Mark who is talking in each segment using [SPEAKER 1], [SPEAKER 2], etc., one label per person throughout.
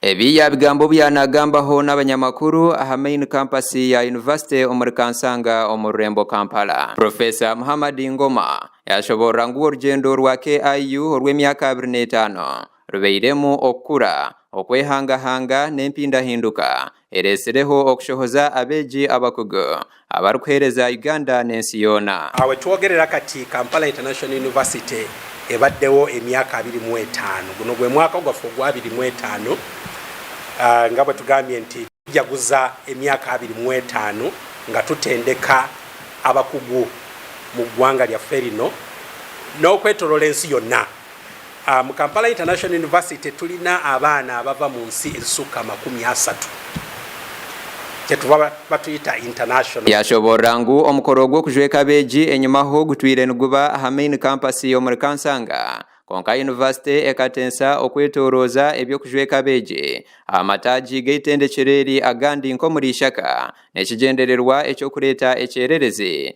[SPEAKER 1] Ebi yaabigambo obu yari naagambaho n'abanyamakuru aha Main Campus ya Yunivasite omuri Kansanga omu rurembo Kampala. Profesa Muhammad Ngoma yaashoboorora ngu orugyendo rwa KIU orw'emyaka abiri n'etaano rubairemu okukura, okwehangahanga n'empindahinduka Eretsireho okushohoza abeegi abakugu abarikuheereza Uganda n'ensi yoona. Aha we twogerera kati,
[SPEAKER 2] Kampala International University ebaddewo emyaka abiri mu etaano. Guno gwe mwaka gwaffe ogwa abiri mu etaano. Nga bwe tugambye nti tujaguza emyaka abiri mu etaano nga tutendeka abakugu mu ggwanga lyaffe lino n'okwetoroora ensi yonna. Mu Kampala International University tulina abaana abava mu nsi ezisuka makumi asatu kyetuba batwita International. Yashoborora ngu
[SPEAKER 1] omukoro ogw'okujweka abeegi enyimaho gutwire niguba aha Main Campus y'omuri Kansanga kwonka yunivasite ekatensa okwetorooza eby'okujweka abeegi aha mataagi g'eitendekyero eri agandi nk'omuri Ishaka n'ekigyendererwa eky'okureeta ekyererezi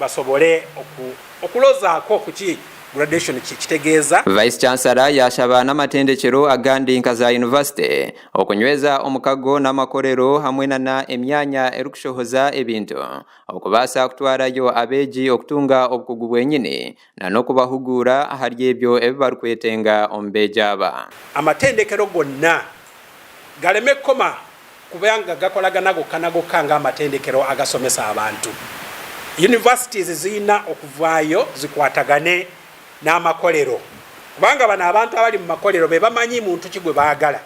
[SPEAKER 2] basobole okulozaako kuki gradation kitegeeza. Vice Chancellor
[SPEAKER 1] yaashaba n'amatendekyero agandi nka za yunivasite okunyweza omukago n'amakorero hamwe nana emyanya erikushohoza ebintu okubaasa kutwarayo abeegi okutunga obukugu bwenyini na n'okubahuguura ahari ebyo ebi barikwetenga omu beegi aba. Amatendekero
[SPEAKER 2] gonna gareme kukoma kuba nga gakoragana goka na goka ng'amatendekero agasomesa abantu. Universities ziina okuvaayo zikwatagane n'amakorero kubanga aba n'abantu abari mu makorero be bamanyi muntu ki gwe bagara.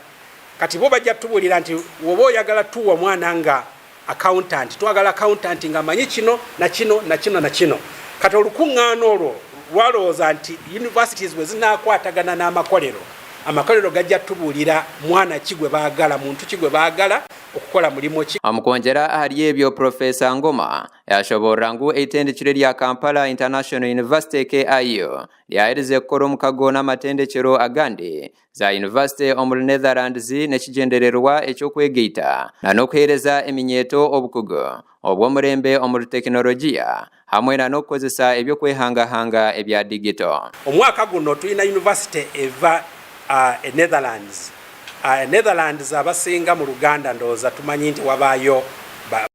[SPEAKER 2] Kati bo bagya tuburira nti woba oyagara tuwa omwana nga. Accountant, twagala accountant ngu amanye kino na kino na kino na kino. Kati orukung'aana orwo rwarowooza nti universities bwe zinaakwatagana n'amakorero, amakorero gagya tubuurira mwana ki gwe baagala, muntu ki gwe baagala okukora murimo ki. Omu kwongyera ahari ebyo,
[SPEAKER 1] Professor Ngoma yaashoboorora ngu eitendekero erya Kampala International University, KIU, ryaherize kukora omukago n'amatendekyero agandi za yunivasite omuri Netherlands n'ekigyendererwa eky'okwegaita na n'okuheereza eminyeeto obukugu obw'omurembe omuri tekinologiya hamwe na n'okukozesa eby'okwehangahanga ebya digito. Omu mwaka guno twine
[SPEAKER 2] yunivasite eva e Netherlands. E Netherlands abasinga mu Luganda ndooza tumanyi nti wabaayo ba.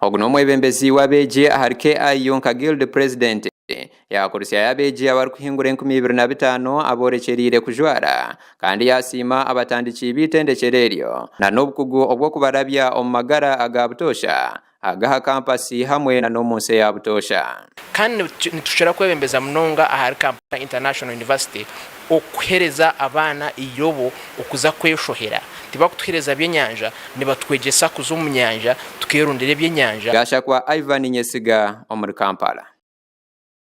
[SPEAKER 1] Ogu n'omwebembezi w'abeegi ahari KIU nka Guild President. Yaakurutsyayo abeegi abarikuhingura enkumi ibiri na bitaano aboorekyereire kujwara kandi yaasiima abatandiki b'eitendekyero eryo na n'obukugu obw'okubarabya omu magara aga butoosha ag'aha kampasi hamwe na n'omu nsi eya butoosha. Kandi
[SPEAKER 3] nitushwera kwebembeza munonga ahari Kampala International University Okuhereza abaana eirobo okuza kweshohera. Tibakutuhereza by'enyanja, nibatwegyesa kuza omu
[SPEAKER 1] nyanja
[SPEAKER 3] tukeerondera eby'enyanja.
[SPEAKER 1] Gashakwa
[SPEAKER 3] Ivan
[SPEAKER 1] Nyesiga omuri
[SPEAKER 3] Kampala.